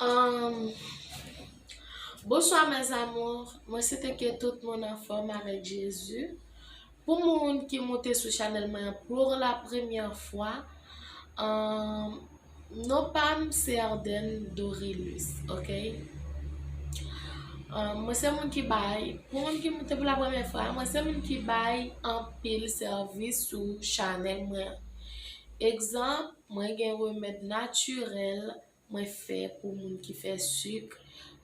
Humm Bonsoir mes amours mwen swete ke tout moun anfom avek Jezu pou moun ki moute sou chanel mwen an pour la première fwa humm non pam se Ardenne Dorilus ok humm mwen se moun ki bay pou moun ki moute pou la première fwa mwen se moun ki bay anpil service sou chanel mwen an egzanp mwen gen remed naturel Mwen fè pou moun ki fè suk,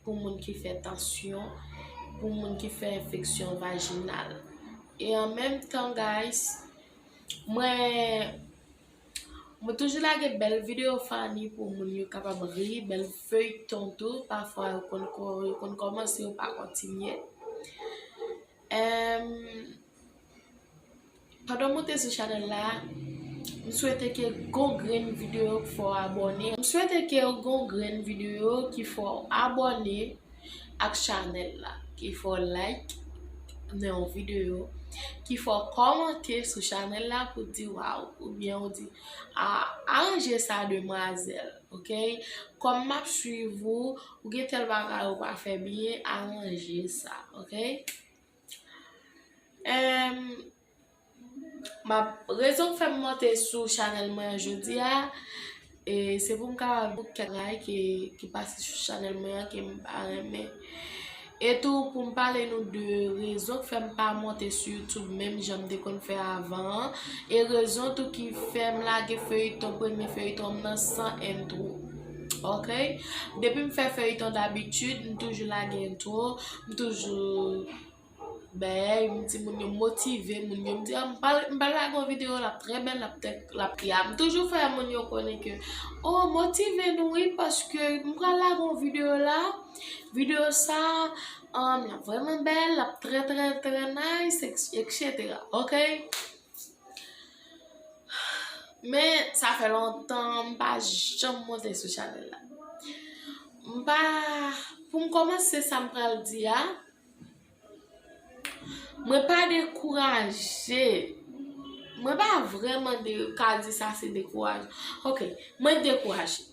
pou moun ki fè tansyon, pou moun ki fè enfeksyon vajinal. E an menm tan guys, mwen mwen toujou lage bèl video funny pou moun yo kapab ri, bèl feuilleton tou, pafwa yo konn yo konn kòmanse yo pa kontinye. Emm Pandan w moute sou chanèl la, m swete ke gon grenn videyo ki fè w abòne. M swete ke gon grenn videyo ki fè w abòne ak chanèl la. Ki fè w like nan yon videyo. Ki fè w kòmante sou chanèl la pou di waw oubyen ou di aranje sa demwazèl. Ok, kòm m ap swiv ou, ou gen tèl bagay ou pa fè byen, aranje sa. Ok. Ehm map rezon k fè m monte sou chanèl mwen an jodi a e se pou m ka di w kèk bagay ki pase sou chanèl mwen an ke m pa renmen e tou pou m pale nou de rezon k fè m pa monte sou youtube menm jan m te konn fè avan an e rezon tou ki fè m lage feyiton premye feyiton m nan san entwo ok depi m fè feyiton dabitid m toujou lage entwo M toujou bay m ti moun yo motive moun yo m di m pa lage yon video lap trè bèl lap trè bèl m toujou fè moun yo konnen ke oh motive nou wi paske m pral lage yon video la video sa lap vrèman bèl lap trè trè trè nice etc ok. Men sa fè lontan m pa janm monte sou chanèl la. M pa, pou m kòmanse sa m pral di a, mwen pa dekouraje, mwen pa vreman ka di sa se dekouraje. Ok, mwen dekouraje.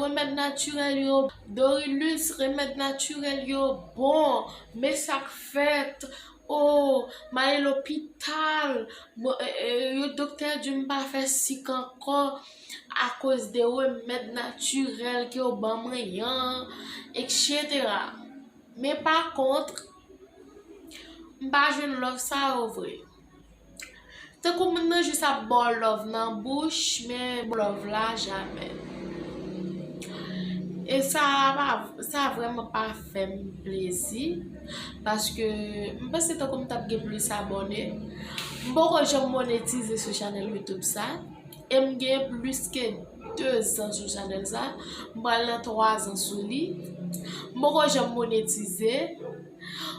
Remèd natirèl yo Dorilus remèd natirèl yo bon men sak fèt ooh m ale lopital yon doktè di m pa fè sik ankò akoz de remèd natirèl ke yo ban mwen yan etc men pa kontr m pa jwenn love sa yo vre. Tankou moun nan jis ap baw love nan bouch men pou love la jamè. E sa pa sa vreman pa fèm plezi paske m panse tankou m tap gen plis abòne. M poko janm monetize sou chanèl youtube sa e m gen plis ke 2 zan sou chanèl sa m pral nan 3 zan sou li m poko janm monetize.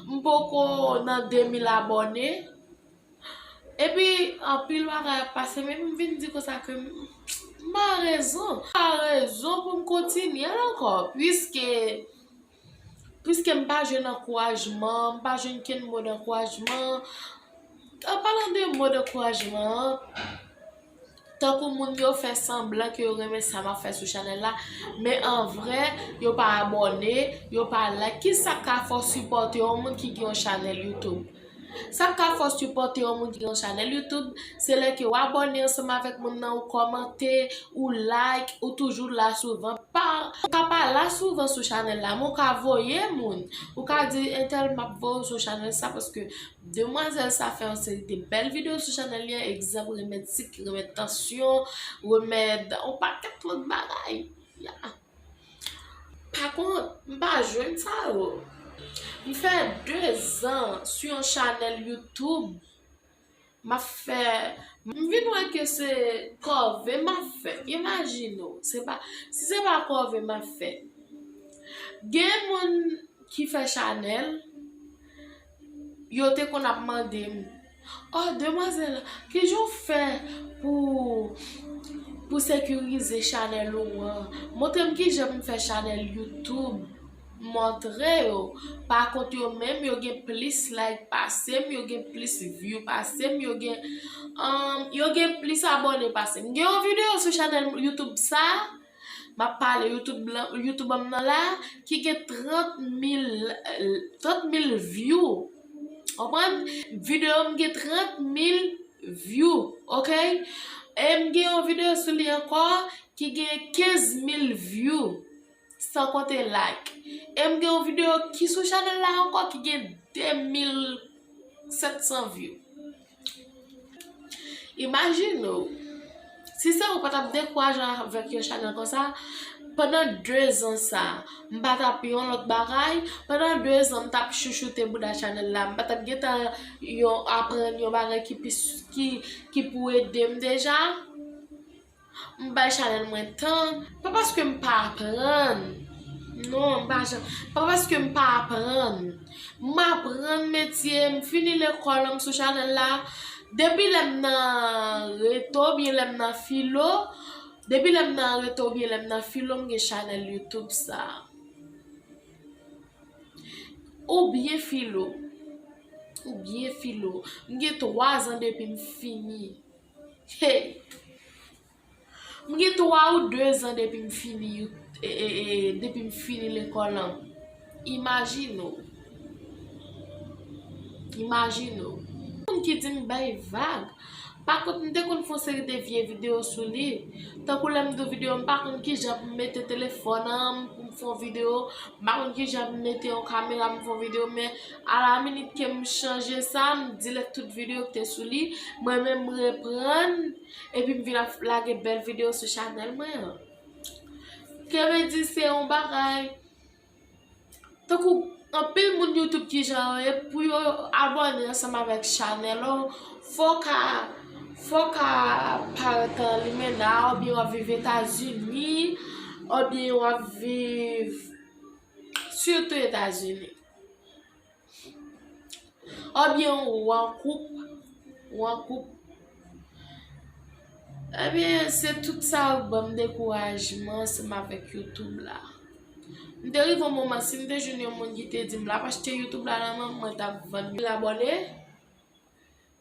M poko nan 2000 abòne epi anpil bagay ap pase men m vin di konsa ke m pa rezon m pa rezon pou m kontinye l ankò piske piske m pa jwenn ankourajman m pa jwenn kenn mo dankourajman an palan de mo dankourajman an Tankou moun yo fè sanblan ke yo renmen sa map fè sou chanèl la, men an vrè yo pa abòne, yo pa like, kisa ka fè w sipòte yon moun ki gen yon chanèl YouTube? Sak ka fè w sipòte yon moun ki gen yon chanèl YouTube, se lè ke w abòne ansanm avèk moun nan, ou kòmante, ou like, ou toujou la souvan, ou ka pa la souvan sou chanèl la, men w ka voye moun, ou ka di entèl map voye w sou chanèl sa paske Demwazèl sa fè yon seri de bèl video sou chanèl li an, egzanp remèd sik, remèd tansyon, remèd yon pakèt lòt bagay. Pa kont, m pa jwenn sa yo. M fè 2 zan sou yon chanèl YouTube, m ap fè, m vin wè ke se kòve m ap fè. Imajine w, se pa, si se pa kòve m ap fè. Gen moun ki fè chanèl. yo te konn ap mande m, Oh demwazèl, kijan w fè pou ou sekirize chanèl ou an? Montre m kijan m fè chanèl YouTube. M montre yo. Pa kont yo menm, yo gen plis like pase m, yo gen plis view pase m, yo gen yo gen plis abòne pase m. M gen yon videyo sou chanèl YouTube sa. Map pale youtube m nan la ki gen 30 mil view konprann video m gen 30 mil view ok e m gen yon video sou li anko ki gen 15 mil view san konte like e m gen yon video ki sou chanel la anko ki gen 2700 view Imajine ou, si se ou pa tap dekouraje avèk yon chanèl konsa, pandan 2 zan sa, m pa tap yon lòt bagay, pandan 2 zan m tap chouchoute bouda chanèl la, m pa tap gentan yon aprann yon bagay ki pou ede m deja. M bay chanèl mwen tan. Pa paske m pa aprann. Non m pa janm. Pa paske m pa aprann. M aprann metye. M fini lekòl lan m sou chanèl la. Depi lè m nan reto oubyen lè m nan filo. Depi lè m nan reto oubyen lè m nan filo m gen chanèl youtube sa. Oubyen filo. Oubyen filo. M gen 3 zan depi m fini. Hey! M gen 3 ou 2 zan depi m fini depi m fini lekòl lan. Imajine w! Imajine w! Gen moun ki di m bay vag. Pa kont m te konn fè yon seri de vye videyo sou li. Tankou lè m di w videyo m pa konn kijan pou m mete telefòn an pou m fè yon videyo. M pa konn kijan pou m mete yon kamera pou m fè yon videyo men. A la minit ke m chanje sa, m delete tout video ki te sou li, mwen menm m reprann, epi m vin ap lage bèl video sou chanèl mwen an. Kemedi se yon bagay, tankou anpil moun YouTube ki jan yo ye, pou yo abòne ansanm avèk chanèl la w, fò w ka, fò w ka parèt an limena, oubyen w ap viv Etazini, oubyen w ap viv sitou Etazini. Obyen ou an koup, ou an koup. Ebyen se tout sa yo k banm dekourajman seman avèk youtube la. M te rive yon moman si m te jwenn yon moun ki te di m l ap achte youtube la nan men m mwen t ap vann l abòne.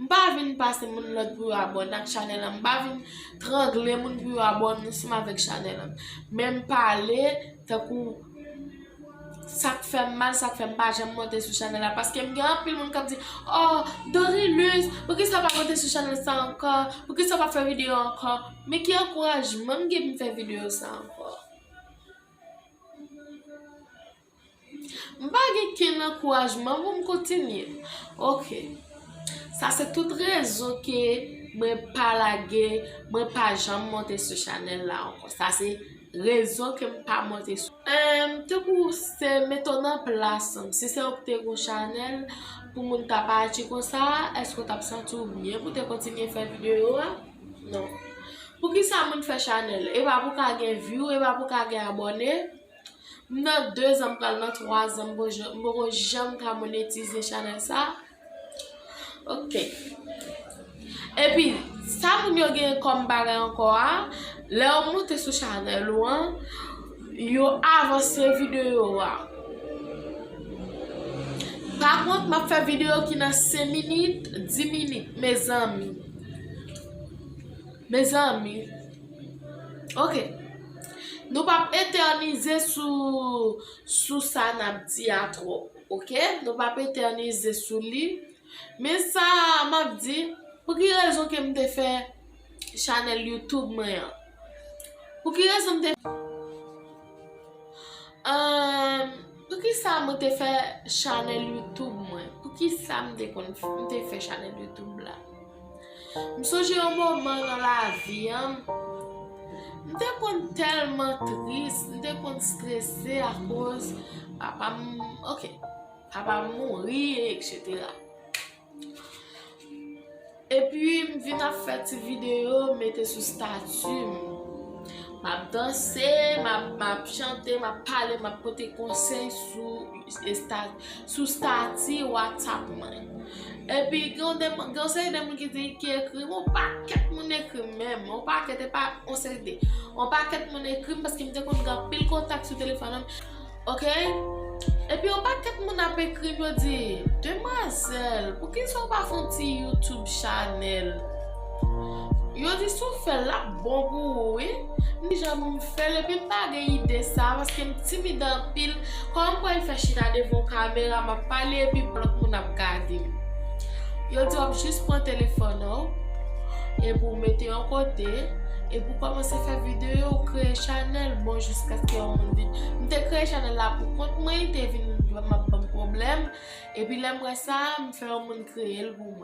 M pa vin pase moun lòd pou yo abòne ak chanèl la, m pa vin trangle moun pou yo abòne ansanm avèk chanèl la. Men m pale tankou sa k fè m mal, sa k fè m pa janm monte sou chanèl la. Paske m gen anpil moun k ap di, Oh, Dorilus, poukisa ou pa monte sou chanèl sa ankò? Poukisa ou pa fè videyo ankò? Men ki ankourajman m gen pou m fè videyo sa ankò? M pa gen kenn ankourajman pou m kontinye. Ok. Sa se tout rezon ke mwen pa lage, mwen pa janm monte sou chanèl la ankò. Sa se rezon ke m pa monte sou. Emm, tankou ou se mete w nan plas m. Si se ou ki te gon chanèl pou moun ta pa aji konsa, èske ou t ap santi w byen pou te kontinye fè videyo a? Non. Poukisa moun fè chanèl? E pa pou ka gen vyou, e pa pou ka gen abòne? M nan 2 zan m pral nan 3 zan m poko janm ka monetize chanèl sa ok epi sa moun yo gen kòm bagay ankò a lè ou moute sou chanèl ou an yo avanse videyo ou a pa kont m ap fè videyo ki nan 5 minit 10 minit mezanmi mezanmi Ok. Nou pa p etènize sou sa n ap di a twòp. Ok? Nou pa p etènize sou li. Men sa m ap di, pou ki rezon ke m te fè chanèl YouTube mwen an? Pou ki rezon m te fè... Pou ki sa m te fè chanèl YouTube mwen? Pou ki sa m te fè chanèl YouTube la? M sonje yon moman nan lavi m, m te konn tèlman tris, m te konn strese akoz papa m, ok, papa m mouri eksetera. Epi m vin ap fè ti videyo m mete sou stati m. M ap danse, m ap chante, m ap pale, m ap pote konsèy sou estati. Sou stati whatsapp mwen. Epi gen yon seri de moun ki di ki ekri m, yon pakèt moun ekri m menm, yon pakèt epa yon seri de. Yon pakèt moun ekri m paske m te konn gen anpil kontak sou telefòn an. Ok, epi yon pakèt moun ap ekri m yo di, demwazèl, poukisa ou pa fè yon ti youtube chanèl? Yo di si w fèl lap bon pou ou wi M di janm fèl epim pa gen ide sa paskem timid anpil Kòman m pral fè chita devan yon kamera map pale epi lòt moun ap gade m Yo di wap jis pran telefòn anw epi w mete yon kote epi w kòmanse fè videyo w kreye chanèl bon jiskaske yon moun vin M te kreye chanèl la pou kont mwen te vin map banm pwoblèm epi lèm wè sa m fè yon moun kreyel pou mwen.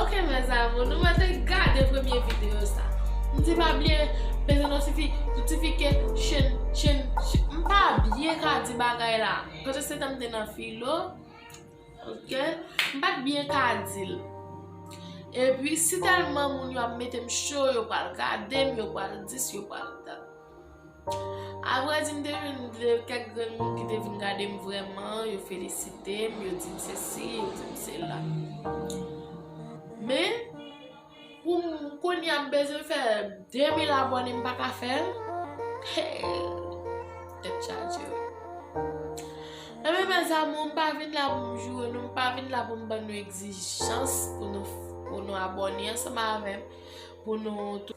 Ok mes amour nou mèt gade premye video sa mdi pa bliye peze notifike chen chen mpa byen ka di bagay la paske se tanm te nan filo ok mpat byen ka dil epi si telman moun yo ap metem cho yo pral gadem yo pral dis yo pral dat. A vrè di, m te jwenn kèk grenn moun ki te vin gade m vrèman, yo felisite m, yo di m sesi, yo di m sela. Men, pou m kounye a m bezwen fè 2000 abòne m pa ka fè l, hee, tèt chaje wi. Enben mes amour, m pa vin la pou m joure nou, m pa vin la pou m ban nou egzijans pou nou abòne ansanm avè m, pou nou tou.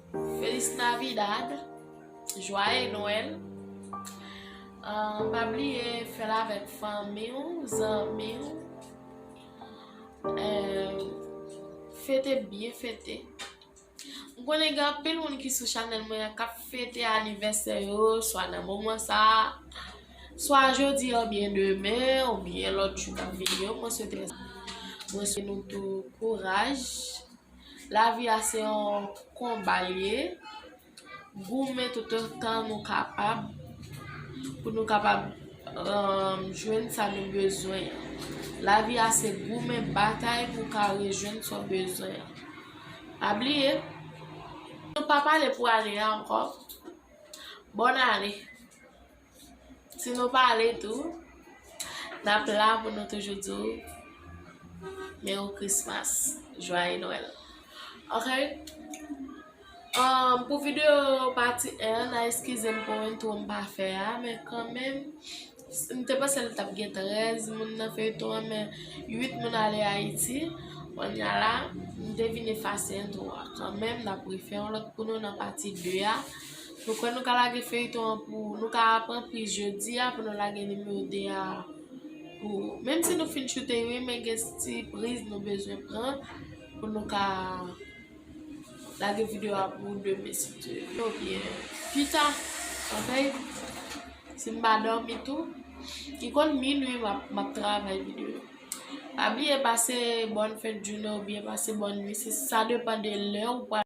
Feliz Navidad, Jwaye Nwèl, pa bliye fèl avèk fanmi ou, zanmi ou, fete byen fete. M konnen gen anpil moun ki sou chanèl mwen an kap fete anivèsè yo swa nan moman sa a, swa jodi a oubyen demen oubyen lòt jou kap vini yo, mwen swete nou tou kouraj. Lavi a se yon konba li ye, goumen tout otan nou kapab pou nou kapab jwenn sa nou bezwen an. Lavi a se goumen, batay pou w ka rejwenn sa w bezwen an. Pa bliye, nou pa pale pou ane a ankò, bòn ane! Si nou pale tou, n ap la pou nou toujou di w Merry Christmas, Jwaye Nwèl. Ok? Um, pou videyo pati 1 an, nan eskize m pou entwo m pa fè a, men kan menm, m te panse l tap gen 13 moun nan feyton an, men 8 moun ale Ayiti, konya la, m te vin efase entwo a. Kan menm, n ap refè yon lòt pou nou nan pati 2 a. Nou kwè nou ka lage feyton an pou nou ka pran priz jodia pou nou lage nimewo 2 a pou menm si nou fin choute youn men gen ti priz nou bezwen pran pou nou ka lage video a pou demen si Dye vle ou byen pita ok si m pa dòmi tou li konn minwi m ap travay video pa bliye pase bòn fèt jounen ou byen pase bòn nwit sa depan de lè ou pral